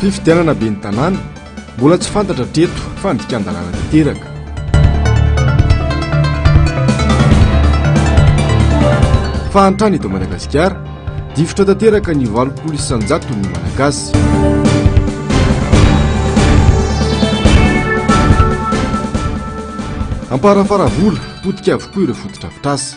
Fifidianana ben'ny tanàna, mbola tsy fantatra hatreto fa andikan-dalàna tanteraka. Fahantrana eto Madagasikara, Difotra tanteraka ny valopolo isan-jaton'ny Malagasy. Amparafara vola, potika avokoa ireo fotodrafitrasa.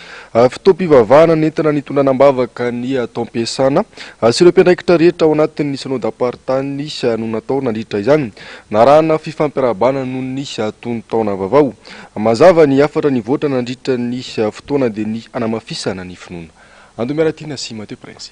Fotoam-pivavahana nentina nitondrana am-bavaka ny atao am-piasana sy ireo mpiandraikitra rehetra ao anatin'ny Synodam-paritany no natao nandritra izany. Narahana fifampirahabana noho ny atonon-taona vavao. Mazava ny hafatra nivoatra nandritra ny fotoana dia ny hanamafisana ny finoana. Andomerantina sy Mateo Prince.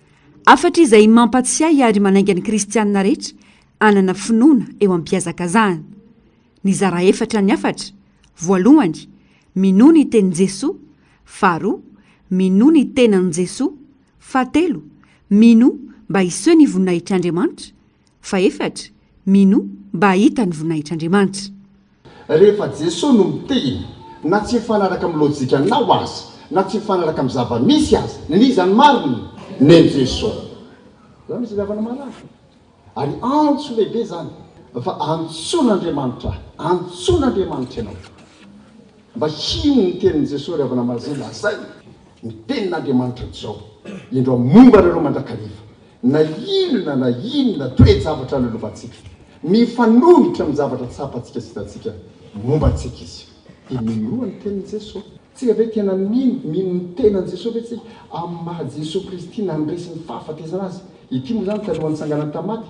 Hafatra izay mampatsiahy ary manainga ny kristiana rehetra hanana finoana eo am-pihazakazahana. Nizara efatra ny hafatra, voalohany, minoa ny tenin'i Jesoa, faharoa, minoa ny tenan'i Jesoa, fahatelo, minoa mba hiseho ny voninahitr'Andriamanitra, Fahefatra, Mino mba hahita ny voninahitr'Andriamanitra. Rehefa Jesoa no miteny, na tsy mifanaraka amin'ny lojikanao aza, na tsy mifanaraka amin'ny zava-misy aza, ny iza no marina? Nen'i Jesoa. Zany misy ilàvana marary. Ary antso lehibe zany fa antsoin'Andriamanitra ahy, antsoin'Andriamanitra ianao. Mba hino ny tenin'i Jesosy ry havana Mazé, lazainy ny tenin'Andriamanitra izao indro momba anareo mandrakariva, na inona na inona toe-javatra lolovantsika, mifanohitra amin'ny zavatra tsapantsika sy hitantsika momba antsika izy. Dia minoa ny tenin'i Jesosy. Tsika ve tena mino, mino ny tenan'i Jesosy ve tsika amin'ny maha Jesosy Kristy nandresy ny fahafatesana azy? Ity moa izany talohan'ny tsanganany tamin'ny maty.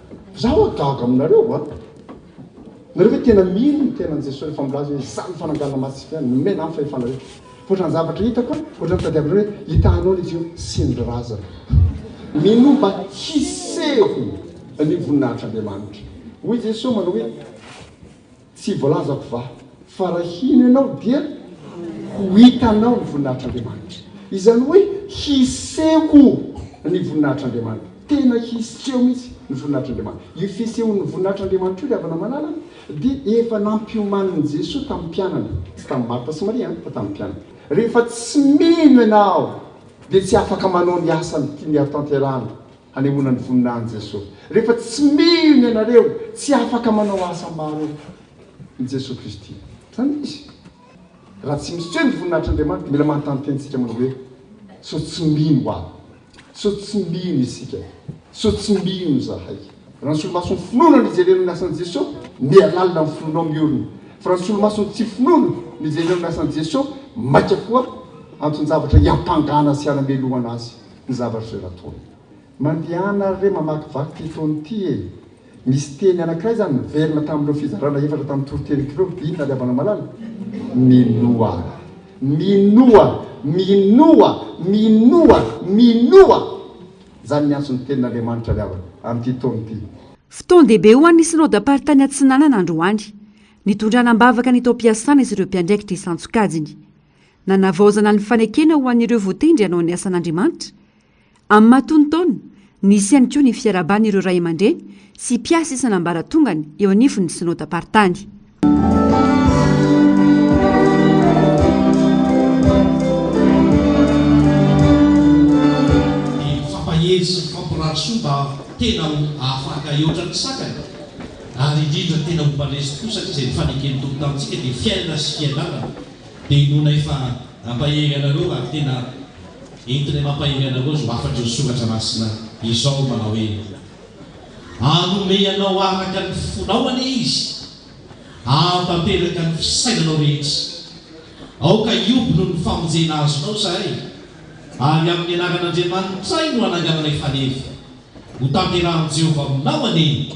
Za oa gaga aminareo oa! Nareo ve tena mino ny tenan Jesoa refa milaza oe za ny fananganana masika nomena ny fahefana rehetra? Otrany zavatra hitako a, otrany tadiavinareo oe hitahanao ny jiro sy ny razana. Minoa mba hiseho ny voninahitr'Andriamanitra. Hoy Jesoa manao oe. Tsy voalazako va fa raha hino ianao dia ho hitanao ny voninahitr'Andriamanitra. Izany hoe hiseho ny voninahitr'Andriamanitra. Tena hiseho mihitsy ny voninahitr'Andriamanitra. Io fisehon'ny voninahitr'Andriamanitra io ry havana malala a, dia efa nampiomanin'i Jesoa tamin'ny mpianany. Tsy tamin'i Marta sy Maria an, fa tamin'ny mpianany. Rehefa tsy mino ianao dia tsy afaka manao ny asany tiany hatanterahana. hanehoana ny voninahin'i Jesoa. Rehefa tsy mino ianareo, tsy afaka manao asa maro i Jesoa Kristy. Izany izy. Raha tsy miseho ny voninahitr'Andriamanitra, mila manontany tenintsika manao hoe, sao tsy mino aho? Sao tsy mino isika? Sao tsy mino izahay? Raha ny solomason'ny finoana no ijerenao ny asan'i Jesoa, miha lalina ny finoanao miorina. Fa raha ny solomason'ny tsy finoana no ijerenao ny asan'i Jesoa, mainka koa anton-javatra iampangana sy hanamelohana Azy. Ny zavatra izay nataony. Mandehana ary re mamakivaky ity foana ity e! Misy teny anankiray izany niverina tamin'ireo fizarana efatra tamin'ny toritenik'ireo hoe inona ry havanamalala? Minoa! Minoa! Minoa! Minoa! Minoa! Izany ny antson'ny tenin'Andriamanitra ny havana amin'ity taona ity. Fotoan-dehibe ho an'ny Synodamparitany Atsinanana androany. Nitondrana am-bavaka ny taom-piasana sy ireo mpiandraikitra isan-tsokajiny. Nanavaozana ny fanekena ho an'ireo voatendry hanao ny asan'Andriamanitra. Amin'ny maha tonon-taona, nisy ihany koa ny fiarahaban'ireo ray aman-dreny sy mpiasa isan'ambaratongany eo anivon'ny Synodam-paritany. Mifampahery sy mifampirary soa mba tena ho afaka hihoatra ny sakany, ary indrindra tena ho mba leso tokoa satria izay ny faneken'ny Tompo tamintsika dia fiainana sy fiadanana. Dia inoana efa nampahery anareo raha tena entinay mampahery anareo izao hafatr'ireo soratra masina izao manao hoe, Hanome anao araka ny fonao anie Izy, hahatanteraka ny fisainanao rehetra. Aoka hihoby noho ny famonjena azonao izahay, ary amin'ny anaran'Andriamanitray no anangananay faneva. Hotanterahin'i Jehovah aminao anie.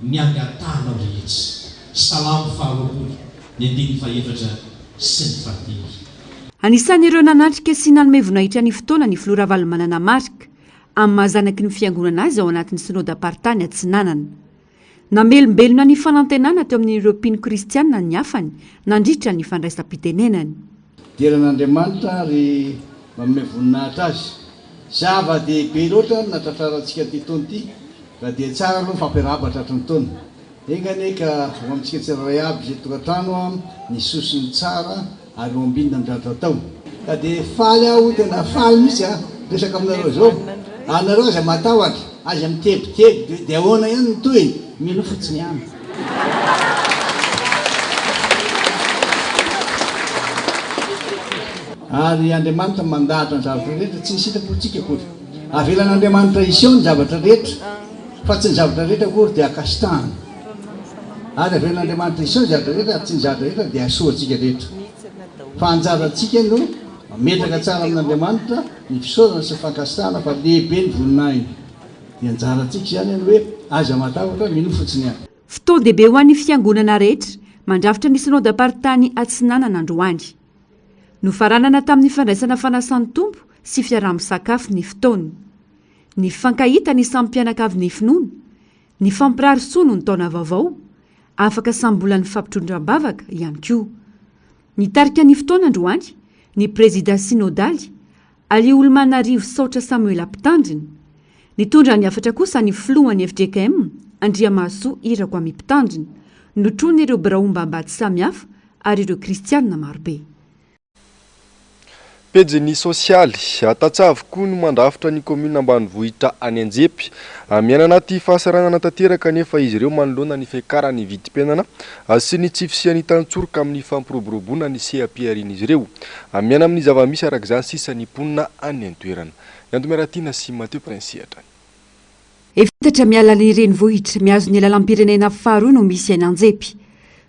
ny angatahanao rehetra. Salamo faharoapolo, ny andininy fahefatra sy ny fahadimy. Anisan'ireo nanatrika sy nanome voninahitra ny fotoana ny Filoha Ravalomanana Marc, amin'ny maha zanaky ny Fiangonana azy ao anatin'ny Synodam-paritany Atsinanana. Namelombelona ny fanantenana teo amin'ireo mpino kristiana ny hafany nandritra ny fandraisam-pitenenany. Dera an'Andriamanitra ary manome voninahitra Azy. Zava dehibe loatra ny natratrarantsika ity taona ity ka dia tsara aloha ny fampiarahaba tratry ny taona. Enga anie ka ho amintsika tsirairay aby izay tokantrano ny sosiny tsara ary ho ambinina amin'ny ratra atao. Ka dia faly aho, tena faly mihitsy aho miresaka aminareo izao. Ary nareo aza matahotra, aza mitebiteby hoe dia ahoana ihany ny tohiny. Mino fotsiny ihany Ary Andriamanitra mandahatra ny zavatra rehetra, tsy ny sitrapontsika akory. Avelan'Andriamanitra hiseho ny zavatra rehetra, fa tsy ny zavatra rehetra akory dia akasitahana. Ary avelan'Andriamanitra hiseho ny zavatra rehetra, ary tsy ny zavatra rehetra dia hasoantsika rehetra. Fa anjarantsika no mametraka tsara amin'Andriamanitra ny fisaorana sy ny fankasitahana fa lehibe ny voninahiny. Ny anjarantsika izany ny hoe aiza matahotra, minoa fotsiny an! Fotoan-dehibe ho an'ny Fiangonana rehetra mandrafitra ny Synodam-paritany Atsinanana androany. Nofaranana tamin'ny fandraisana fanasan'ny Tompo sy fiaraha-misakafo ny fotoana. Nifankahita ny samy mpianakavin'ny finoana, nifampirary soa noho ny taona vaovao, afaka samy mbola nifampitrodran-bavaka ihany koa. Nitarika ny fotoana androany ny prezida synodaly Aliolomanarivo Saotra Samuela Mpitandrina, Nitondra ny hafatra kosa ny filohan' ny fjkm, Andriamahasoa Irakoamy Mpitandrina, notronin' ireo biraom-bambady samihafa ary ireo kristiana marobe. Pejiny sosialy, Tantsaha-vy koa no mandrafitra ny kaominina ambanivohitra any Anjepy. Miaina anaty fahasahiranana tanteraka anefa izy ireo manoloana ny fiakaran'ny vidim-piainana Azy sy ny tsy fisian'ny tantsoroka amin'ny fampiroboroboana ny seha-piharian'izy ireo. Amiana amin'ny zava-misy araka izany sisa ny mponina any an-toerana. I Antomy Ratiana sy Mathieu Prince Ihatra. Efatra miala ny renivohitra, mihazo ny lalam-pirenena faharoa no misy eny Anjepy.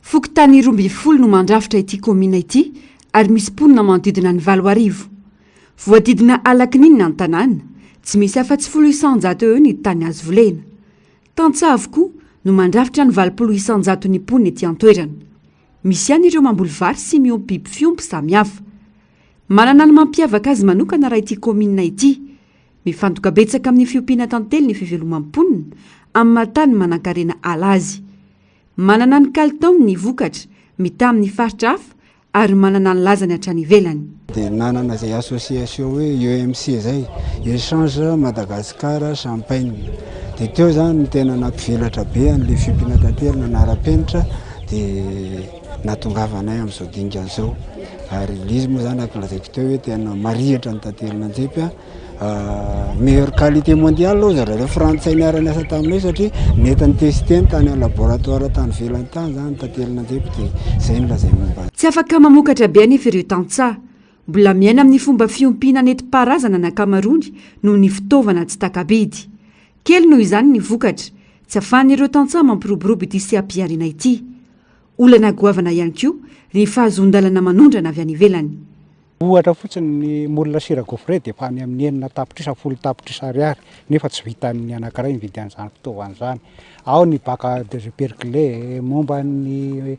Fokontany roa ambin'ny folo no mandrafitra ity kaominina ity ary misy mponina manodidina ny valo arivo. Voadidina ala kininina ny tanàna, tsy misy afa-tsy folo isan-jato eo eo ny tany azo volena. Tantsaha avokoa no mandrafitra ny valopolo isan-jaton'ny mponina ety an-toerana. Misy ihany ireo mamboly vary sy miompy biby fiompy samihafa. Manana ny mampiavaka azy manokana raha ity kaominina ity. Mifantoka betsaka amin'ny fiompiana tantely ny fivelomam-ponina amin'ny maha-tany manankarena ala azy. Manana ny kalitaony ny vokatra, mitaha amin'ny faritra hafa ary manana ny lazany hatrany ivelany. Dia nanana izay association hoe EMC izay, Echange Madagascar Champagne. Dia teo izany no tena nampivelatra be an'ilay fiompiana tantely nanara-penitra, dia nahatongavanay amin'izao dingana izao. Ary ilay izy moa izany, araka ny lazaiko teo, hoe tena marihitra ny tantelin'Anjepy. meilleur qualité mondiale hoy zareo reo frantsay niara-niasa taminay satria nety ni-tester-ny tany amin'ny laboratoire tany ivelany tany zany ny tantely nandeha dia zay no lazainy momba azy. Tsy afaka mamokatra be anefa ireo tantsaha. Mbola miaina amin'ny fomba fiompiana nentim-paharazana ny ankamaroany noho ny fitaovana tsy taka-bidy. Kely noho izany ny vokatra, tsy afahan'ireo tantsaha mampiroborobo ity seha-pihariana ity. Olana goavana ihany koa ny fahazoan-dalana manondrana avy any ivelany. Ohatra fotsiny, ny moule sira gaufre dia efa any amin'ny enina tapitrisa, folo tapitrisa ariary, nefa tsy vitan'ny anankiray ny vidin'izany fitaovana izany. Ao ny bac à perclé, momba ny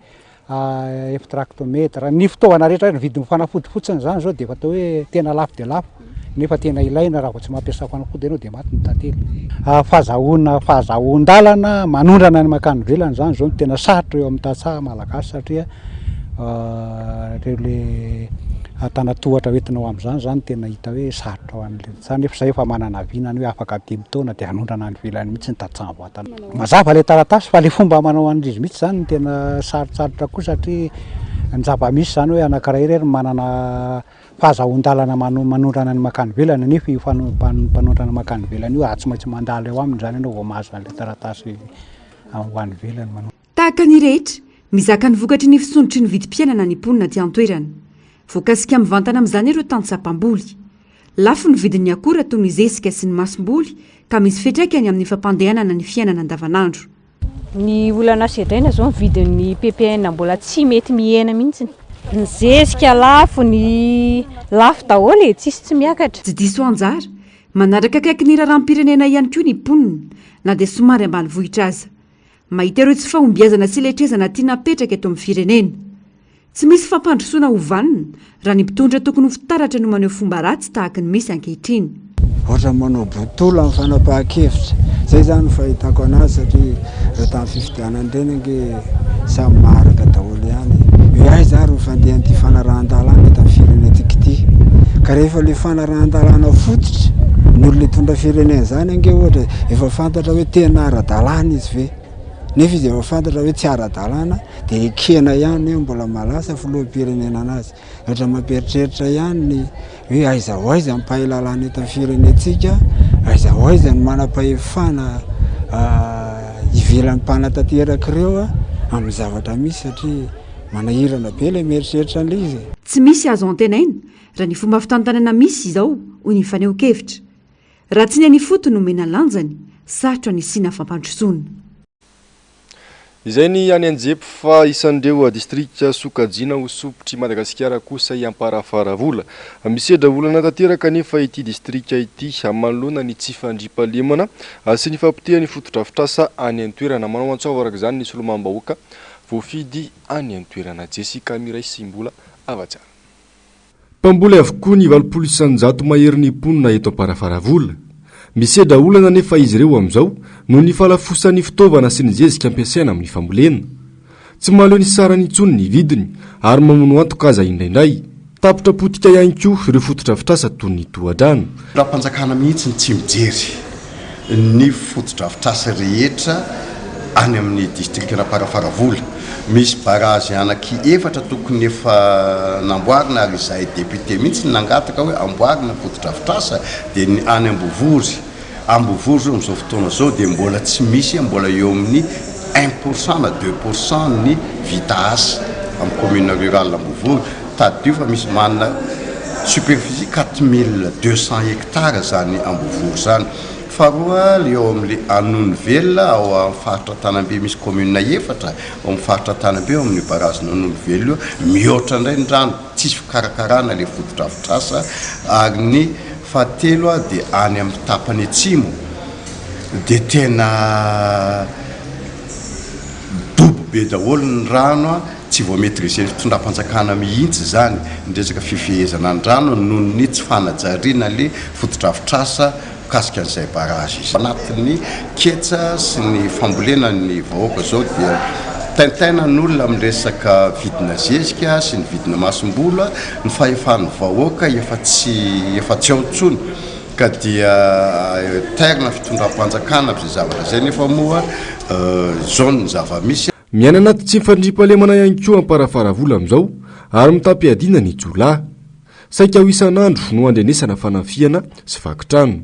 eftractomètre, ny fitaovana rehetra, ny vidin'ny fanafody fotsiny izany izao dia efa atao hoe tena lafo dia lafo, nefa tena ilaina, raha vao tsy mampiasa fanafody ianao dia maty ny tantely. Fahazahoana, fahazahoan-dalana manondrana ny mankany ivelany izany izao no tena sarotra eo amin'ny tantsaha malagasy satria Ireo le tana tohatra ho entinao amin'izany zany tena hita hoe sarotra ho an'le za nefa za efa manana avis nany hoe afaka dimy taona de anondrana any ivelany mihitsy ny tantsaha vatana. Mazava le taratasy fa le fomba manao an'izy mihitsy zany no tena sarotsarotra koa satria ny zava-misy zany hoe anakiray irery no manana fahazahoan-dalana mano- manondrana ny mankany ivelany nefa io fano- mpan- mpanondrana mankany ivelany io a tsy maintsy mandalo eo aminy zany anao vao mahazo an'le taratasy ho any ivelany. Tahaka ny rehetra, mizaka ny vokatry ny fisondrotry ny vidim-piainana ny mponina aty an-toerana. Voakasika mivantana amin'izany ireo tantsaha mpamboly. Lafo ny vidin'ny akora toy ny zezika sy ny masomboly ka misy fiantraikany amin'ny fampandehanana ny fiainana andavanandro. Ny olana sedraina izao ny vidin'ny ppn mbola tsy mety mihena mihitsy. Ny zezika lafo, ny lafo daholo e, tsisy tsy miakatra. Tsy diso anjara, manaraka akaiky ny raharaham-pirenena ihany koa ny mponina, na dia somary ambanivohitra aza. Mahita ireo tsy fahombiazana sy letrezana tiana apetraka eto amin'ny firenena. Tsy misy fampandrosoana ho vanona raha ny mpitondra tokony ho fitaratra no maneho fomba ratsy tahaka ny misy ankehitriny. Ohatran'ny manao botolo amin'ny fanapahan-kevitra. Izay izany no fahitako anazy satria ireo tamin'ny fifidianana ireny ange samy maharaka daholo. daholo ihany e! Hoe aiza ary ny fandehan'ity fanarahan-dalàna eto amin'ny firenentsika ity? Ka rehefa ilay fanarahan-dalàna fototra ny olona hitondra firenena izany ange ohatra efa fantatra hoe tena ara-dalàna izy ve? Nefa izy efa fantatra hoe tsy ara-dalàna dia ekena ihany hoe mbola mahalasa filoham-pirenena an'azy. Ohatra mampieritreritra ihany ny hoe aiza ho aiza ny mpahay lalàna eto amin'ny firenentsika, aiza ho aiza ny manam-pahefana ivelan'ny mpanatanteraka ireo amin'ny zavatra misy satria manahirana be ilay mieritreritra an'ilay izy e. Tsy misy azo antenaina raha ny fomba fitantanana misy izao, hoy ny fanehoan-kevitra. Raha tsy ny any ifotony no omena lanjany, sarotra ny hisiana fampandrosoana. Izay ny any Anjepy fa isan'ireo distrika sokajiana ho sopitr'i Madagasikara kosa i Amparafaravola. Misedra olana tanteraka anefa ity distrika ity manoloana ny tsy fandriampahalemana sy ny fahapotehan'ny fotodrafitrasa any an-toerana. Manao antsoavo araka izany ny solombavam-bahoaka voafidy any an-toerana, Jessica Miraisimbola, Hava-tsara. Mpamboly avokoa ny valopolo isan-jato maherin'ny mponina eto Amparafaravola. Misedra olana anefa izy ireo amin'izao noho ny fahalafosan'ny fitaovana sy ny zezika ampiasaina amin'ny fambolena. Tsy mahaleo ny sarany intsony ny vidiny ary mamono antoka aza indraindray. Tapitra potika ihany koa ireo fotodrafitrasa toy ny tohadrano. Rafi-panjakana mihitsy ny tsy mijery ny fotodrafitrasa rehetra any amin'ny distrikan'i Amparafaravola. Misy barazy anaky efatra tokony efa namboarina ary izahay député mihitsy no nangataka hoe amboarina ny fotodrafitrasa dia ny any Ambovory. Ambovory izao amin'izao fotoana izao dia mbola tsy misy mbola eo amin'ny un pourcent na deux pourcent ny vita asa amin'ny commune rurale Ambovory Tadidio fa misy manana superficie quatre mille deux cents hectares izany Ambovory izany. Faharoa, ilay ao amin'ilay Anonivelona, ao amin'ny faritra Antanambe, misy commune efatra ao amin'ny faritra Antanambe, ao amin'io barrage-n'i Anonivelona io, mihoatra indray ny rano, tsisy fikarakarana ilay fotodrafitrasa, ary ny fahatelo dia any amin'ny tapany atsimo dia tena dobo be daholo ny rano. Tsy vao maîtriser ny fitondram-panjakana mihitsy izany ny resaka fifehezana ny rano noho ny tsy fanajariana ny fotodrafitrasa mikasika an'izay barrage izay. Anatin'ny ketsa sy ny fambolena ny vahoaka izao dia taintaina ny olona amin'ny resaka vidina zezika sy ny vidina masombola, ny fahefan'ny vahoaka efa tsy efa tsy ao intsony ka dia tairina fitondram-panjakana amin'izay zavatra izay nefa moa izao ny zava-misy. Miaina anaty tsy fandriampahalemana ihany koa Amparafaravola amin'izao ary mitam-piadiana ny jiolahy. Saika ho isan'andro no andrenesana fanafihana sy vaky trano.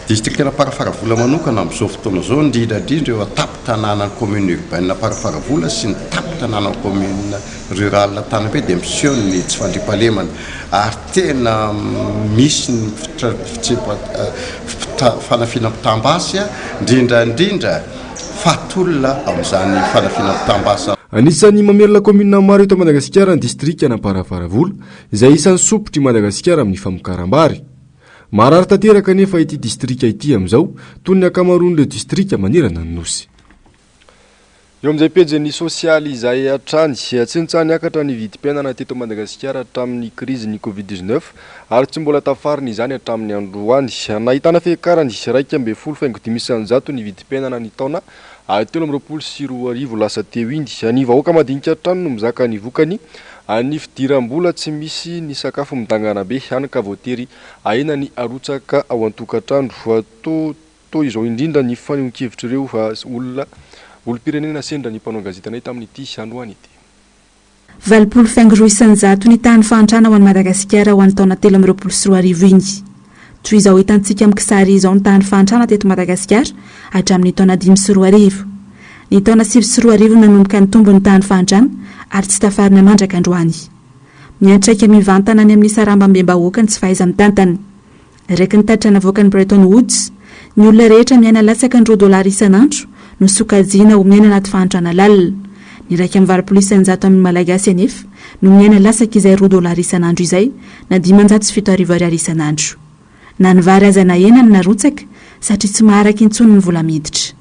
Distrikan'Amparafaravola manokana amin'izao fotoana izao, indrindra indrindra eo an-tampon-tanànan'ny Commune Urbaine Amparafaravola sy ny tampon-tanànan'ny Commune Rurale Antanabe dia miseho ny tsy fandriampahalemana ary tena misy ny fitra-fitsempa-fita-fanafihana mitam-basy indrindra indrindra fa tolona amin'izany fanafiana-pitambasa. Anisan'ny mamelona kaominina maro eto Madagasikara ny distrikan'Amparavaravola izay isan'ny sompitry Madagasikara amin'ny famokaram-bary. Maharary tanteraka anefa ity distrika ity amin'izao toy ny ankamaroan'ireo distrika manerana ny Nosy. Eo amin'izay pejin'ny sosialy izay hatrany, tsy nitsaha-niakatra ny vidim-piainana teto Madagasikara hatramin'ny krizin'ny covid dix-neuf ary tsy mbola tafarina izany hatramin'ny androany. Nahitana fiakarany iraika ambin'ny folo faingo dimy isanjato ny vidim-piainana ny taona telo amby roapolo sy roa arivo lasa teo iny. Ny vahoaka madinika hatrany no mizaka ny vokany, ny fidiram-bola tsy misy, ny sakafo midangana be, hany ka voatery ahena ny arotsaka ao an-tokantrano. Toa izao indrindra ny fanehoan-kevitr'ireo olona olom-pirenena sendra ny mpanao gazetanay tamin'ity androany ity. Valopolo faingo roa isan-jato ny tahan'ny fahantrana ho an'i Madagasikara ho an'ny taona telo amby roapolo sy roa arivo iny. Toy izao hitantsika amin'ny kisary izao ny tahan'ny fahantrana teto Madagasikara hatramin'ny taona dimy sy roa arivo. Ny taona sivy sy roa arivo no nanomboka nitombo ny tahan'ny fahantrana ary tsy tafarina mandrak'androany. Miantraika mivantana any amin'ny sarambambem-bahoaka ny tsy fahaiza-mitantana. Araka ny tatitra navoakan'ny Bretton Woods, ny olona rehetra miaina latsaka ny roa dolara isan'andro no sokajiana ho miaina anaty fahantrana lalina. Ny iraika amby valopolo isan-jato amin'ny Malagasy anefa no miaina latsaka izay roa dolara isan'andro izay, na dimanjato sy fito arivo ariary isan'andro. Na ny vary aza nahena no narotsaka, satria tsy maharaka intsony ny vola miditra.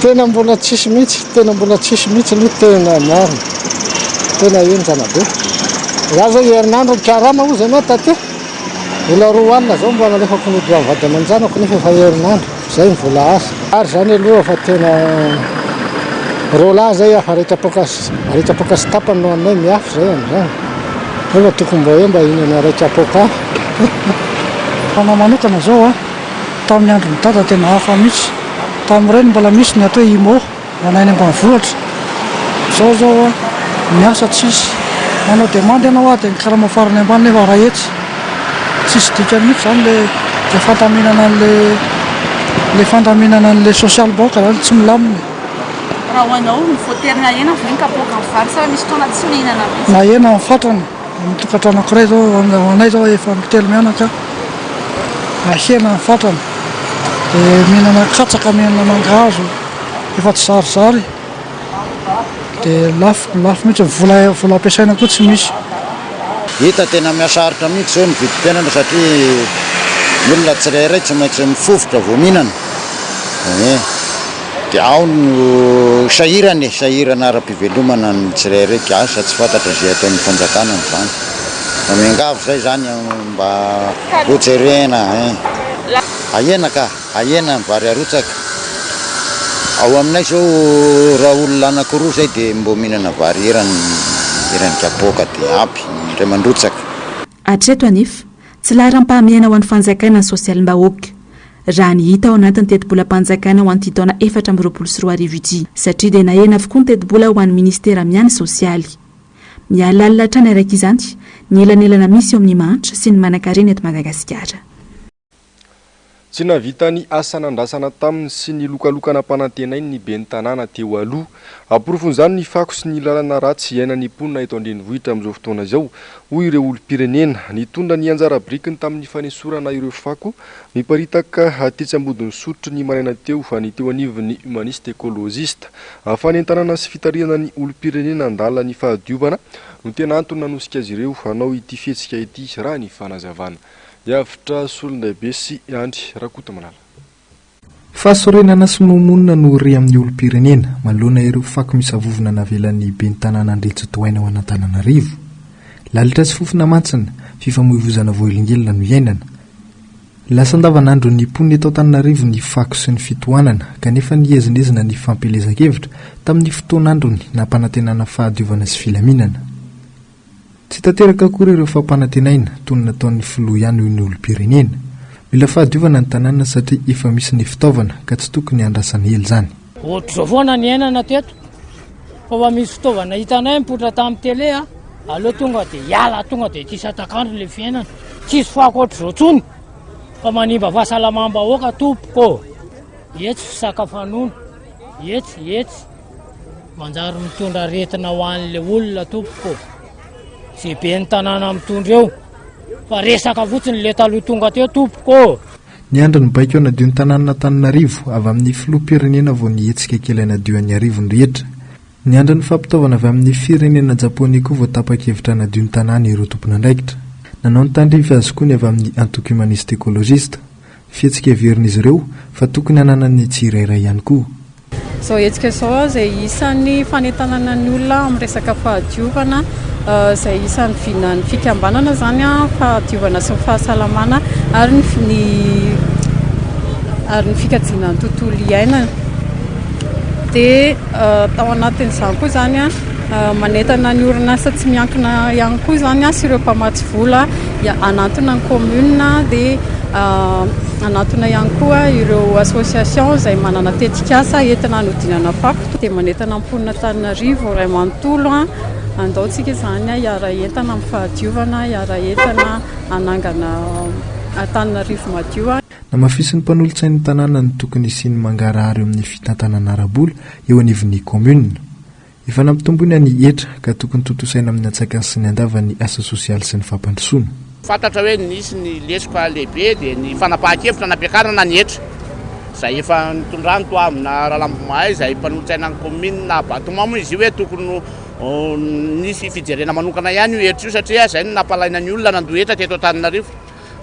Tena mbola tsisy mihitsy, tena mbola tsisy mihitsy aloha tena marina, tena henjana be. Za zao herinandro nikarama ozy ianao taty, mbola roa alina zao mbola nalefako ny odilan'ny vady aman-janako nefa efa herinandro zay ny vola azo. Ary zany aloha fa tena roa lahy zay afa raika apoaka sy raika apoaka sy tapany no haninay miafy zay amizany nefa tokony mba hoe mba hinana raika apoaka afa. Ho anao manokana zao a. Tamin'ny andron'i Dada tena hafa mihitsy. Tamin'ireny mbola misy ny ato hoe Imo, ho anay any ambanivohitra. Izao izao an, ny asa tsisy. Manao demande ianao ary dia ny karama farany ambany nefa iray hetsy. Tsisy dikany mihitsy izany ilay ilay fandaminana an'ilay ilay fandaminana an'ilay social bank izany, tsy milamina. Raha ho anao, mivoatery nahena ve ny kapoaka ny vary sa misy fotoana tsy mihinana mihitsy? Nahena ny fatrany. Amin'ny tokantrano ankiray zao, ho anay zao efa ampy telo mianaka, ahena ny fatrany, de mihinana katsaka, mihinana mangahazo, efa tsy zarizary, de lafo, lafo mihitsy, ny vola, vola ampiasaina koa tsy misy. Hita tena mihasarotra mihitsy zao ny vidim-piainana satria ny olona tsirairay tsy maintsy mifofotra vao mihinana, ee. Dia ao no sahirana e, sahirana ara-pivelomana ny tsirairay, gasy, tsy fantatra izay ataon'ny fanjakana amin'izany. Mba miangavy izay izany mba ho jerena eh. Ahena ka, ahena ny vary arotsaka. Ao aminay izao raha olona anankiroa izay dia mbo mihinana vary eran'ny eran'ny kapoaka dia ampy ny iray mandrotsaka. Hatreto anefa, tsy laharam-pahamehana ho an'ny fanjakana ny sosialim-bahoaka, raha ny hita ao anatin'ny tetibolam-panjakana ho an'ity taona efatra amby roapolo sy roa arivo ity, satria dia nahena avokoa ny tetibola ho an'ny minisitera miahy ny sosialy. Miha lalina hatrany araka izany ny elanelana misy eo amin'ny mahantra sy ny manankarena eto Madagasikara. Tsy nahavita ny asa nandrasana taminy sy ny lokaloka nampanantenainy ny ben'ny tanàna teo aloha. Amporofon'izany ny fako sy ny lalana ratsy iainan'ny mponina eto an-drenivohitra amin'izao fotoana izao, hoy ireo olom-pirenena. Nitondra ny anjara birikiny tamin'ny fanesorana ireo fako miparitaka tetsy Ambodin'Isotry ny maraina teo ny teo anivon'ny Humaniste Ecologiste. Fanentanana sy fitarihana ny olom-pirenena handala ny fahadiovana no tena antony nanosika azy ireo hanao ity fihetsika ity, raha ny fanazavana. Hiavotra solondahibe sy Andry Rakotomalala. Fahasorenana sy nomonina no re amin'ny olom-pirenena, manoloana ireo fako misavovona navelan'ny Ben'ny Tanàna Andriatsy Doaina ao an'Antananarivo. Lalitra sy fofona mantsina, fifamoivozana voahelingelina no iainana. Lasa andavanandron'ny mponina eto Antananarivo ny fako sy ny fitohanana, kanefa niezinezina ny fampielezan-kevitra, tamin'ny fotoan'androny nampanantenana fahadiovana sy filaminana. Tsy tanteraka akory ireo fampanantenaina toy ny nataon'ny filoha ihany hoy ny olom-pirenena. Mila fahadiovana ny tanàna satria efa misy ny fitaovana ka tsy tokony handrasana ela izany. Ohatr'izao foana ny iainana teto fa mba misy fitaovana hitanay mipoitra tamin'ny tele a! aleo tonga dia hiala tonga dia ity satak'andro ilay fiainana. Tsisy fako ohatr'izao intsony fa manimba fahasalamam-bahoaka tompoko ô! Etsy fisakafanona, etsy, etsy. Manjary mitondra aretina ho an'le olona tompoko. Ze be ny tanàna mitondra eo. Fa resaka fotsiny le taloha tonga teo tompoko. Niandry ny baiko hanadio ny tanànan'Antananarivo, avy amin'ny filoham-pirenena vao nihetsika kely hanadio an'i Iarivo ny rehetra. Niandry ny fampitaovana avy amin'ny firenena Japoney koa vao tapa-kevitra hanadio ny tanàna ireo tompon'andraikitra. Nanao ny tandrify azy koa ny avy amin'ny Antoko Humaniste Ecologiste. Fihetsika heverin'izy ireo fa tokony hananan'ny tsirairay ihany koa. Izao hetsika izao izay isan'ny fanentanana ny olona amin'ny resaka fahadiovana izay isan'ny vinan'ny fikambanana izany an, fahadiovana sy ny fahasalamana ary ny fi- ny ary ny fikajiana ny tontolo iainana. Dia tao anatin'izany koa izany an, Manentana ny orinasa tsy miankina ihany koa izany sy ireo mpamatsy vola hanantona ny commune dia hanantona ihany koa ireo association izay manana tetikasa entina hanodinana fako dia manentana ny mponina Antananarivo iray manontolo handao tsika izany hiara entana amin'ny fahadiovana hiara entana hanangana Antananarivo madio. Namafisin'ny mpanolotsain'ny tanàna ny tokony hisian'ny mangarahara eo amin'ny fitantanana ara-bola eo anivon'ny commune. Efa nampitombo ny an'ny hetra ka tokony tontosaina amin'ny antsakany sy ny andavany ny asa sosialy sy ny fampandrosoana. Fantatra hoe nisy ny lesoka lehibe dia ny fanapahan-kevitra nampiakarana ny hetra izay efa nitondran'i Toamina Ralambomahai izay mpanolotsainan'ny kaominina Abatomà moa izy io hoe tokony ho nisy fijerena manokana ihany io hetra io satria izay no nampalaina ny olona nandoa hetra teto Antananarivo.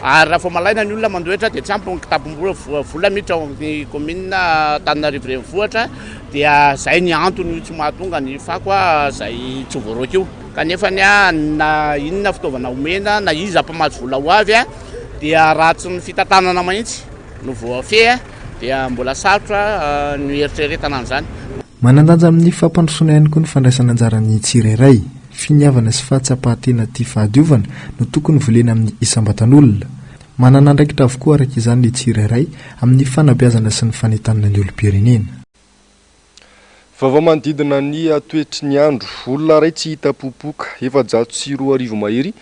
Ary raha vao malaina ny olona mandoetra dia tsy ampy ny kitabom-bola vola miditra ao amin'ny kaominina Antananarivo Renivohitra dia izay ny antony io tsy mahatonga ny fako izay tsy voaroaka io. Kanefa na inona fitaovana omena na iza mpamatsy vola ho avy dia raha tsy ny fitantanana mahitsy no voafehy dia mbola sarotra ny hieritreretana an'izany. Manan-danja amin'ny fampandrosoana ihany koa ny fandraisan'anjaran'ny tsirairay. Finiavana sy fahatsapan-tena tia fahadiovana no tokony volena amin'ny isam-batan'olona. Manana andraikitra avokoa araka izany ny tsirairay amin'ny fanabeazana sy ny fanentanana ny olom-pirenena. Vaovao manodidina ny toetry ny andro. Olona iray tsy hita popoka, efajato sy roa arivo mahery,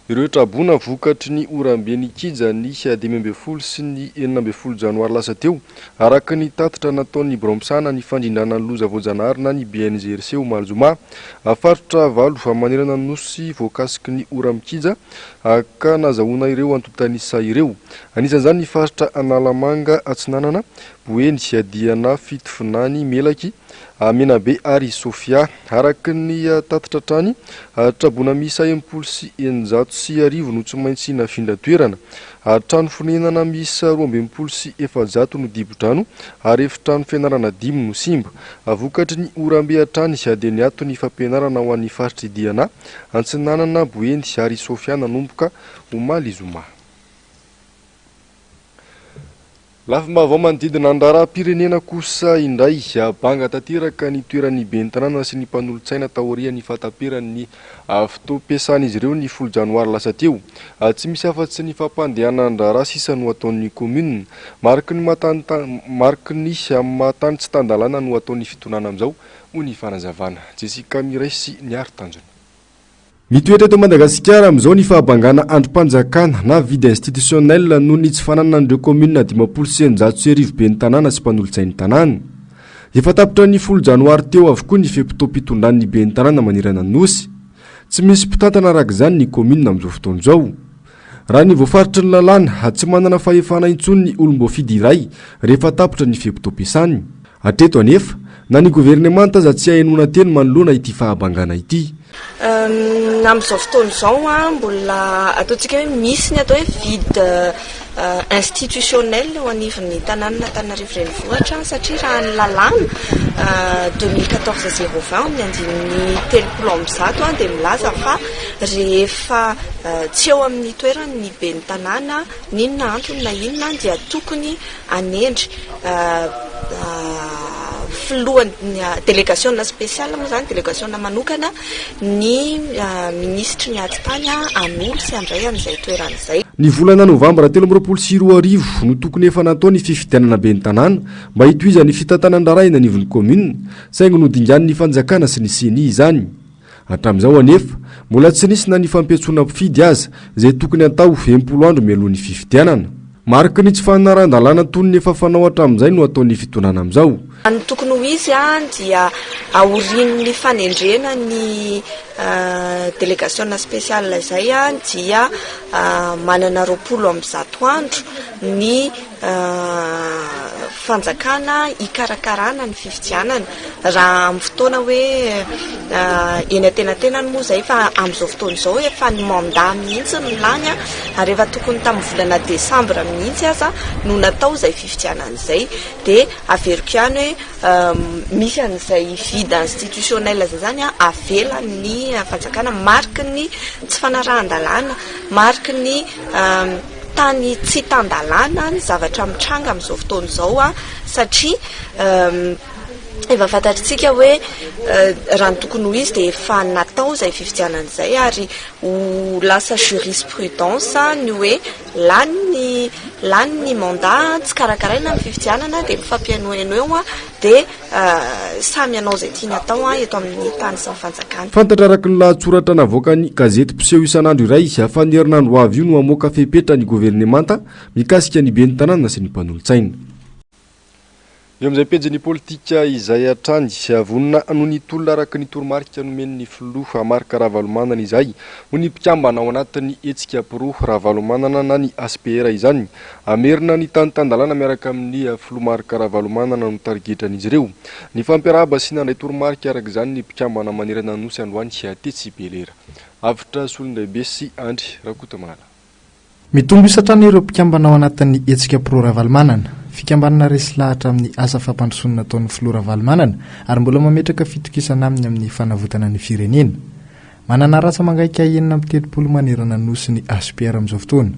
Ireo traboina vokatry ny oram-be nikija ny dimy ambin'ny folo sy ny enina ambin'ny folo janoary lasa teo, araka ny tatitra nataon'ny Biraon'ny Mpisahana ny Fandrindràna ny Loza Voajanahary na ny BNGRC omaly zoma. Faritra valo manerana ny Nosy voakasiky ny ora mikija ka nazahoana ireo antontan'isa ireo. Anisan'izany ny faritra Analamanga Atsinanana, Boeny, Diana, Fitovinany, Melaky, Menabe ary Sofia. Araka ny tatitra hatrany, trabona miisa enimpolo sy eninjato sy arivo no tsy maintsy nafindra toerana, ary trano fonenana miisa roa ambin'ny folo sy efajato no dibo-drano ary efitrano fianarana dimy no simba. Vokatry ny oram-be hatrany dia niato ny fampianarana ho an'ny faritr'i Diana, Antsinanana, Boeny ary Sofia nanomboka omaly zoma. Lafim-baovao manodidina ny raharaham-pirenena kosa indray, banga tanteraka ny toeran'ny ben'ny tanàna sy ny mpanolotsaina taorian'ny fahataperan'ny fotoam-piasan'izy ireo ny folo janoary lasa teo. Tsy misy afa-tsy ny fampandehanan-draharaha sisa no ataon'ny kaominina. Mariky ny mariky ny maha-tany tsy tan-dalàna no ataon'ny fitonàna amin'izao, hoy ny fanazavana. Jessica Mires, Ny Aro Tanjona. Mitoetra eto Madagasikara amin'izao ny fahabangana andrim-panjakana na vide institutionnel noho ny tsy fananan'ireo kaominina dimampolo sy eninjato sy arivo ben'ny tanàna sy mpanolotsain'ny tanàna. Efa tapitra ny folo janoary teo avokoa ny fe-potoam-pitondran'ny ben'ny tanàna manerana ny Nosy. Tsy misy mpitantana araka izany ny kaominina amin'izao fotoana izao. Raha ny voafaritry ny lalàna, tsy manana fahefana intsony ny olom-boafidy iray rehefa tapitra ny fe-potoam-piasany. Hatreto anefa, na ny governemanta aza tsy hay henoina teny manoloana ity fahabangana ity. Amin'izao fotoana izao, mbola ataontsika hoe misy ny atao hoe vide institutionnel eo anivon'ny tanànan'Antananarivo Renivohitra satria raha ny lalàna deux mille quatorze zéro vingt amin'ny andininy telopolo amby zato dia milaza fa Rehefa tsy eo amin'ny toerany ny ben'ny tanàna, n'inona antony na inona, dia tokony hanendry filohan'ny delegasiona spesiala moa izany, delegasiona manokana, ny minisitry ny atitany hanolo sy handray an'izay toerana izay. Ny volana novambra telo amby roapolo sy roa arivo no tokony efa natao ny fifidianana ben'ny tanàna mba hitohizan'ny fitantanan-draharaha eny anivon'ny kaominina, saingy nodinganin'ny fanjakana sy ny ceni izany. Hatramin'izao anefa, mbola tsy nisy na ny fampiantsoana mpifidy aza, izay tokony hatao enimpolo andro mialoha ny fifidianana. Mariky ny tsy fanarahan-dalàna toy ny efa fanao hatramin'izay no ataon'ny fitondrana amin'izao. Raha ny tokony ho izy dia aorian'ny fanendrena ny delegasiona spesiala izay dia manana roapolo amby zato andro ny. fanjakana hikarakarana ny fifidianana raha amin'ny fotoana hoe eny antenatenany moa izay fa amin'izao fotoana izao efa ny manda mihitsy ny lany ary efa tokony tamin'ny volana desambra mihitsy aza no natao izay fifidianana izay dia averiko ihany hoe misy an'izay vide institutionnel izay izany an avelan'ny fanjakana mariky ny tsy fanarahan-dalàna mariky ny tany tsy tan-dalàna ny zavatra mitranga amin'izao fotoana izao satria efa fantatr'tsika hoe raha ny tokony ho izy dia efa natao izay fifidianana izay ary ho lasa jurisprudence ny hoe lany ny lany ny mandat, tsy karakaraina ny fifidianana dia mifampihenoheno eo dia Samy hanao izay tiany atao eto amin'ny tany sy ny fanjakany. Fantatra araka ny lahatsoratra navoakan'ny gazety mpiseho isan'andro iray fa ny herinandro ho avy io no hamoaka fepetra ny governemanta mikasika ny ben'ny tanàna sy ny mpanolotsaina. Eo amin'izay pejin'ny politika izay hatrany, vonona hanohy ny tolona araka ny toromarika nomen'ny filoha Marc Ravalomanana izay, hoy ny mpikambana ao anatin'ny hetsika pro Ravalomanana na ny HPR izany. Hamerina ny tany tan-dalàna miaraka amin'ny filoha Marc Ravalomanana no tarigetran'izy ireo. Nifampiarahaba sy nandray toromarika araka izany ny mpikambana manerana ny Nosy androany tetsy Bel'Air. Avotra Solondraibe sy Andry Rakotomala. Mitombo isa hatrany ireo mpikambana ao anatin'ny hetsika pro Ravalomanana. Fikambanana resy lahatra amin'ny asa fampandrosoana nataon'ny filoha Ravalomanana ary mbola mametraka fitokisana aminy amin'ny fanavotana ny firenena. Manana ràtsa mangaika enina amby telopolo manerana ny Nosy ny HPR amin'izao fotoana.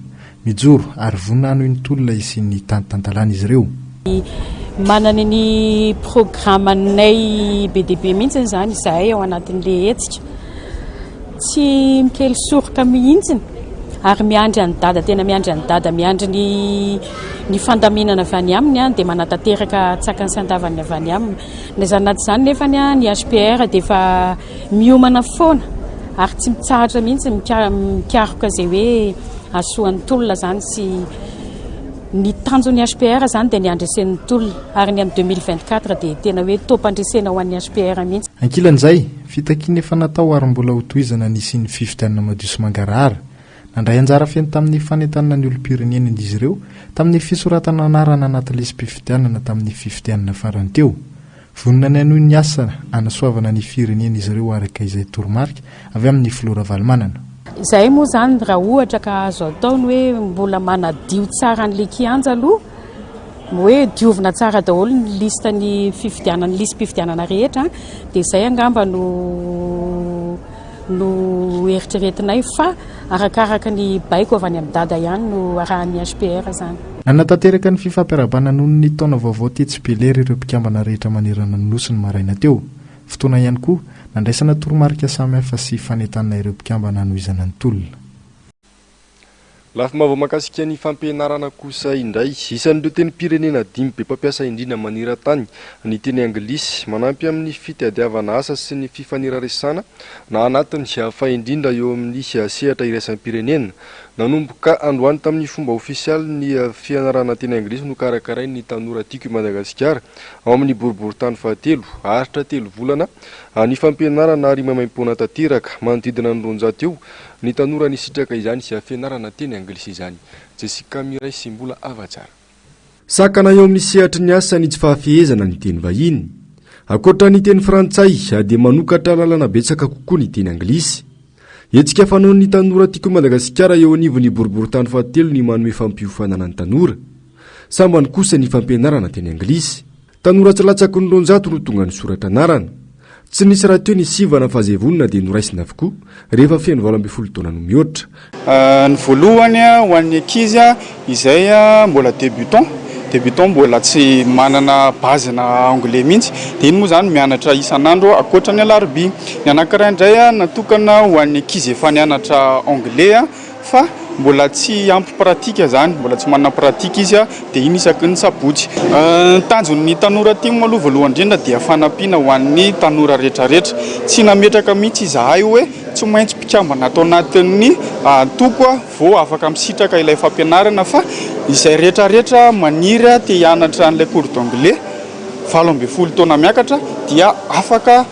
Mijoro ary vonona hanohy ny tolona hisian'ny tany tantalàna izy ireo. Manana ny programanay be dia be mihitsy izany izahay ao anatin'ilay hetsika. Tsy mikely soroka mihitsy ary miandry an'i Dada, tena miandry an'i Dada, miandry ny ny fandaminana avy any aminy dia manatanteraka tsakany sy andavany avy any aminy. Na izany na tsy izany nefany ny HPR dia efa. Miomana foana ary tsy mitsahatra mihitsy mikaroka izay hoe hasoan'ny tolona izany sy ny tanjon'ny HPR izany dia ny handresen'ny tolona ary ny amin'ny deux mille vingt quatre dia tena hoe taom-pandresena ho an'ny HPR mihitsy. Ankilan'izay, fitakiana efa natao ary mbola hotohizana ny hisian'ny fifidianana madio sy mangarahara. Nandray anjara feno tamin'ny fanentanana ny olom-pirenena izy ireo tamin'ny fisoratana anarana anaty lisi-pifidianana tamin'ny fifidianana farany teo. Vonona ny hanohy ny asa hanasoavana ny firenena izy ireo araka izay toromarika avy amin'ny filoha Ravalomanana. Izay moa izany raha ohatra ka azo atao ny hoe mbola manadio tsara an'ilay kianja aloha, ny hoe diovina tsara daholo ny liste ny fifidianana, ny lisi-pifidianana rehetra dia izay angamba no. no eritreretinay fa arakaraka ny baiko avy any amin'ny dada ihany no arahan'ny HPR izany. Nanatanteraka ny fifampiarahabana noho ny taona vaovao tetsy Belery ireo mpikambana rehetra manerana ny Nosy ny maraina teo. Fotoana ihany koa nandraisana toromarika samihafa sy fanentanana ireo mpikambana hanohizana ny tolona. Lafim-baovao mahakasika ny fampianarana kosa indray. Isan'ireo tenim-pirenena dimy be mpampiasa indrindra maneran-tany ny teny anglisy. Manampy amin'ny fitadiavana asa sy ny fifaneraresana na anatiny fa indrindra eo amin'ny sehatra iraisam-pirenena. Nanomboka androany tamin'ny fomba ofisialy ny fianarana teny anglisy nokarakarain'ny Tanora Tiako i Madagasikara ao amin'ny boriborintany fahatelo. Haharitra telo volana ny fampianarana ary maimaim-poana tanteraka. Manodidina ny roanjato eo Ny tanora nisitraka izany sy fianarana teny anglisy izany. Jessica Miray sy mbola ava tsara. Sakana eo amin'ny sehatry ny asa ny tsy fahafehezana ny teny vahiny. Ankoatra ny teny frantsay dia manokatra lalana betsaka kokoa ny teny anglisy. Hetsika fanaon'ny tanora Tiako i Madagasikara eo anivon'ny boriborintany fahatelo ny manome fampiofanana ny tanora. Sambany kosa ny fampianarana teny anglisy. Tanora tsy latsaky ny roanjato no tonga nisoratra anarana. Tsy nisy rahateo ny sivana fa izay vonona dia noraisina avokoa rehefa feno valo ambin'ny folo taona no mihoatra. Ny voalohany ho an'ny ankizy izay mbola débutants, débutants mbola tsy manana base na anglais mihitsy dia iny moa izany mianatra isan'andro ankoatra ny alarobia. Ny anankiray indray natokana ho an'ny ankizy efa nianatra anglais. fa mbola tsy ampy pratika zany, mbola tsy manana pratika izy dia iny isaky ny sabotsy. Ny tanjon'ny tanora tim aloha voalohany indrindra dia fanampiana ho an'ny tanora retraretra, tsy nametraka mihitsy izahay hoe tsy maintsy mpikambana ato anatin'ny antoko vao afaka misitraka ilay fampianarana fa izay retraretra maniry te hianatra an'ilay cours d'anglais valo ambin'ny folo taona miakatra dia afaka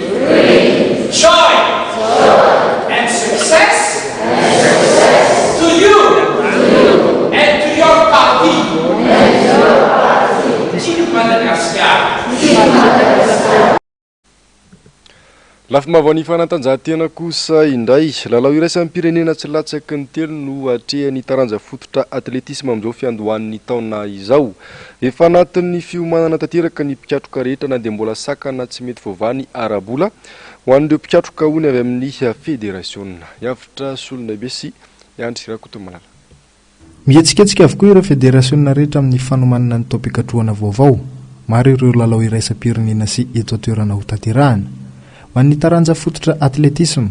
Great joy and success to you and to your party. Tiako i Madagasikara. Lafim-baovaon'ny fanatanjahantena kosa indray. Lalao iraisam-pirenena tsy latsaky ny telo no atrehan'ny taranja fototra atletisma amin'izao fiandohan'ny taona izao. Efa anatin'ny fiomanana tanteraka ny mpikatroka rehetra na dia mbola sakana tsy mety voavaha ny ara-bola ho an'ireo mpikatroka hono avy amin'ny federasiona. Hiavotra solon'aibe sy hiandry Rakotomalala. Mihetsiketsika avokoa ireo federasiona rehetra amin'ny fanomanana ny taom-pikatrohana vaovao. Maro ireo lalao iraisam-pirenena sy eto an-toerana hotanterahana. Ho an'ny taranja fototra atletisma,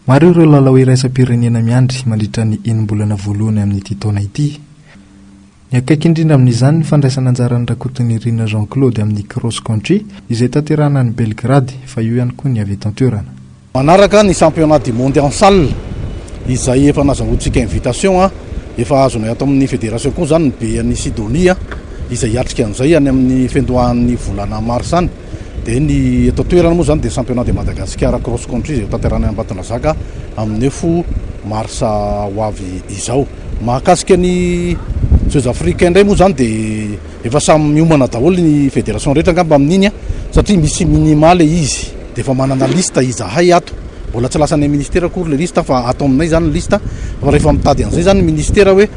Maro ireo lalao iraisam-pirenena miandry mandritra ny enim-bolana voalohany amin'ity taona ity. Ny akaiky indrindra amin'izany ny fandraisana anjaran'i Rakotonirina Jean Claude amin'ny Cross Country izay tanterahana any Belgrade fa eo ihany koa ny avy eto an-toerana. Manaraka ny Championnat du Monde en Salle izay efa nazahoantsika invitation, efa azonay ato amin'ny Fédération koa izany ny Be an'i Sidonie izay hiatrika an'izay any amin'ny fiandohan'ny volana Marsa any. Dia ny eto an-toerana moa izany dia Championnat de Madagascar Cross Country izay hotanterahina any Ambatondrazaka amin'ny fo marsa ho avy izao. Mahakasika ny Jeux Africains indray moa izany dia efa samy miomana daholo ny fédération rehetra angamba amin'iny an, satria misy minima ilay izy. Dia efa manana liste izahay ato, mbola tsy lasan'ny ministera akory ilay liste fa ato aminay izany ny liste, fa rehefa mitady an'izay izany ny ministera hoe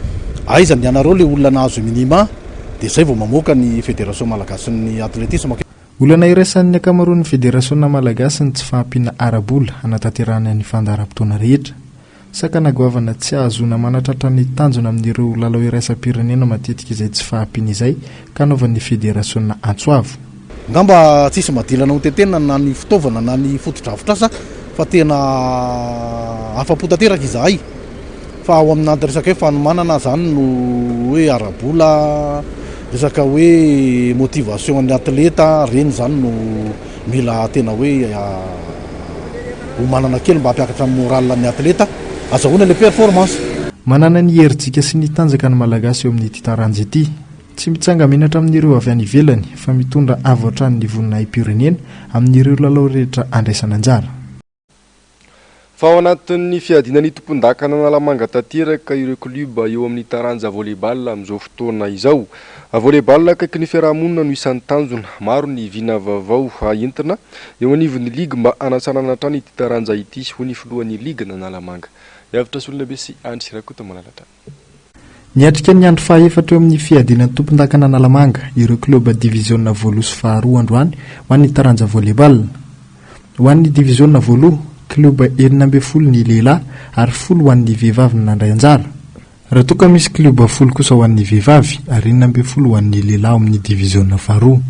aiza ny anareo ilay olona nahazo minima, dia izay vao mamoaka ny Federation malagasin'ny Athletisme. Olana iraisan'ny ankamaroan'ny federasiona malagasy ny tsy fahampiana ara-bola hanatanterahana ny fandaharam-potoana rehetra. Sakana goavana tsy hahazoana manatratra ny tanjona amin'ireo lalao iraisam-pirenena matetika izay tsy fahampiana izay ka anaovan'ny federasiona antso avo. Ngamba tsisy madilana ho tentenina na ny fitaovana na ny fotodrafitrasa fa tena afa-po tanteraka izahay fa ao amin'anty resaka hoe fanomanana zany no hoe ara-bola, resaka hoe motivation an'ny atleta, reny zany no mila tena hoe omanana kely mba hampiakatra ny moral an'ny atleta, azahoana ilay performance. Manana ny herijika sy ny tanjaka ny Malagasy eo amin'ity taranja ity. Tsy mitsanga-menatra amin'ireo avy any ivelany fa mitondra avo hatrany ny voninahi-pirenena amin'ireo lalao rehetra andraisana anjara. Fa ao anatin'ny fiadiana ny tompondakan'Analamanga tanteraka ireo klioba eo amin'ny taranja volley-ball amin'izao fotoana izao. Volley-ball akaiky ny fiarahamonina no isan'ny tanjona. Maro ny vina vaovao entina eo anivon'ny ligy mba hanatsanana hatrany ity taranja ity, hoy ny filohan'ny ligin'Analamanga, Miavotra Solonabe sy Andry Rakotomalalatra. Niatrika ny andro fahaefatra eo amin'ny fiadiana ny tompondakana Analamanga ireo klioba diviziona voaloha sy faharoa androany ho an'ny taranja volley-ball. Ho an'ny diviziona voaloha, klioba enina ambin'ny folo ny lehilahy ary folo ho an'ny vehivavy no nandray anjara. Raha toa ka misy klioba folo kosa ho an'ny vehivavy ary enina ambin'ny folo ho an'ny lehilahy ao amin'ny diviziona faharoa.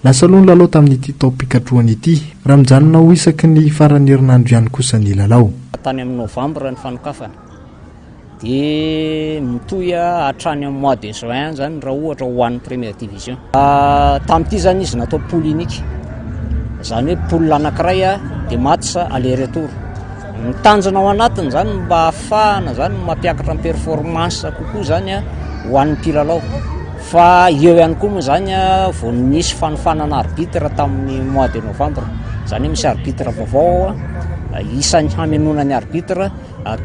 Lasa aloha ny lalao tamin'ity taom-pikatrohana ity, raha mijanona ho isaky ny faran'ny herinandro ihany kosa ny lalao. Hatrany amin'ny novambra ny fanokafana, dia mitohy hatrany amin'ny mois de juin izany raha ohatra ho an'ny première division. Tamin'ity izany izy natao poule unique, izany hoe poule anankiray dia match aller retour. Ny tanjona ao anatiny izany no mba hahafahana izany mampiakatra ny performance kokoa izany ho an'ny mpilalao. Fa eo ihany koa moa izany vao nisy fanofanana arbitre tamin'ny mois de novembre. Izany hoe misy arbitre vaovao isan'ny hamenoana ny arbitre.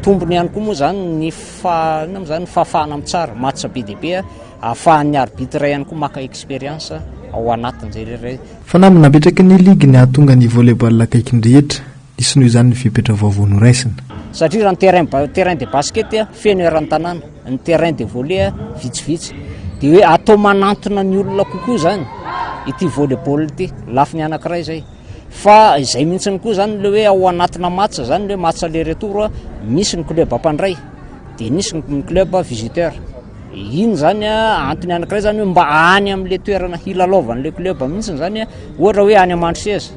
Tombony ihany koa moa izany ny fa inona moa izany ny fahafahana mitsara match be dia be ahafahan'ny arbitre ihany koa maka expérience ao anatin'izay rehetra izay. Fanamby napetraky ny ligy ny hahatonga ny volley-ball akaiky ny rehetra. Hisy noho izany ny fepetra vaovao noraisina. Satria raha ny terrain ba- terrain de basket a, feno eran'ny tanàna, ny terrain de volley a, vitsivitsy. Dia hoe atao manantona ny olona kokoa izany ity volleyball ity, lafiny anankiray izay. Fa izay mihitsiny koa izany ilay hoe ao anatina match izany ilay hoe match aller retour a, misy ny club mpandray, dia nisy ny ny club visiteur. Iny izany a, antony anankiray izany hoe mba any amin'ilay toerana hilalaovan'ilay club mihitsiny izany a, ohatra hoe any Mandroseza.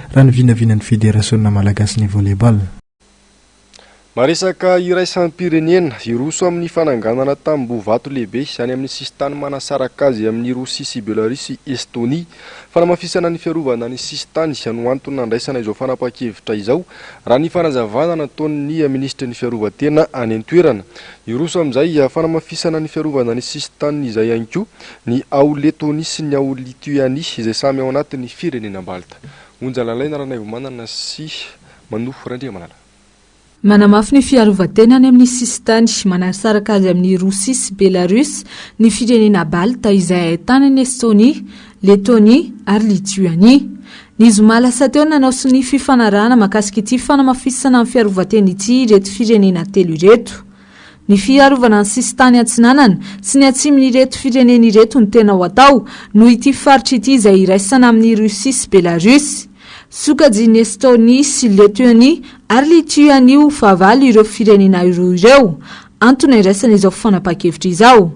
raha ny vinavinan'ny Federasiona malagasin'ny Volley-ball. Maresaka iraisam-pirenena, Hiroso amin'ny fananganana tamboho vato lehibe any amin'ny sisintany manasaraka azy amin'i Rosia sy Belarus i Estonia. Fanamafisana ny fiarovana ny sisintany no antony nandraisana izao fanapahan-kevitra izao, raha ny fanazavana nataon'ny minisitry ny Fiarovan-tena any an-toerana. Hiroso amin'izay fanamafisana ny fiarovana ny sisintany izay ihany koa, Ny ao Letonia sy ny ao Lituania, izay samy ao anatin'ny Firenena Balta. Onja lalaina Ranaivomanana sy Manofo Randriamanana. Manamafy ny fiarovan-tenany amin'ny sisintany manasaraka azy amin'i Rosia sy Belarus ny Firenena Balta izay ahitana an'i Estonia, Letonia ary Lituania. Ny zoma lasa teo no nanao sonia fifanarahana mahakasika ity fanamafisana ny fiarovan-tena ity ireto firenena telo ireto. Ny fiarovana ny sisintany atsinanana sy ny atsimon'ireto firenena ireto no tena ho atao, noho ity faritra ity izay iraisana amin'i Russie sy Belarusy. Sokajian'i Estonie sy Letionie ary Lituanie ho fahavalo ireo firenena roa ireo. Antony andraisana izao fanapahan-kevitra izao.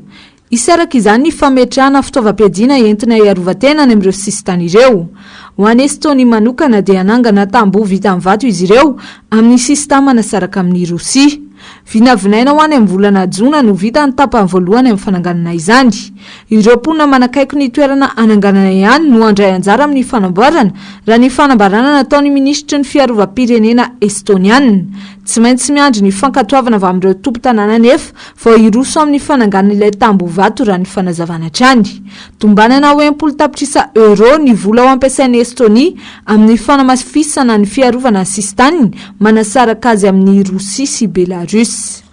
Hisy araka izany ny fametrahana fitaovam-piadiana entina hiarovan-tena any amin'ireo sisintany ireo. Ho an'i Estonia manokana dia hanangana tamboho vita amin'ny vato izy ireo amin'ny sisintany manasaraka amin'i Rosia. Vinavinaina ho any amin'ny volana jona no ho vita ny tapany voalohany amin'ny fananganana izany. Ireo mponina manakaiky ny toerana hananganana ihany no handray anjara amin'ny fanamboarana, raha ny fanambarana nataon'ny minisitry ny fiarovam-pirenena estoniana. Tsy maintsy miandry ny fankatoavana avy amin'ireo tompon-tanàna anefa Vao hiroso amin'ny fananganana ilay tamboho vato raha ny fanazavana hatrany. Tombanana ho enimpolo tapitrisa euros ny vola ho ampiasain'i Estonia amin'ny fanamafisana ny fiarovana ny sisin-taniny manasaraka azy amin'i Rosia sy Belarus.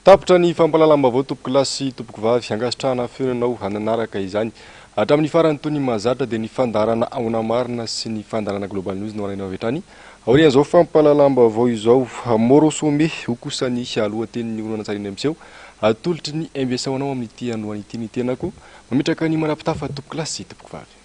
Tapitra ny fampahalalam-baovao tompokolahy sy tompokovavy, ankasitrahana ny fionanao hananaraka izany hatramin'ny farany toy ny mahazatra dia ny fandaharana Ahona Marina sy ny fandaharana Global News no alainao avy hatrany Aorian'izao fampahalalam-baovao izao, Moro Some ho kosa ny lohatenin'ny horonantsary eny amin'ny seho. Atolotry ny MBS ho anao amin'ity androany ity ny tenako. Mametraka ny manapitafa tompokolahy sy tompokovavy.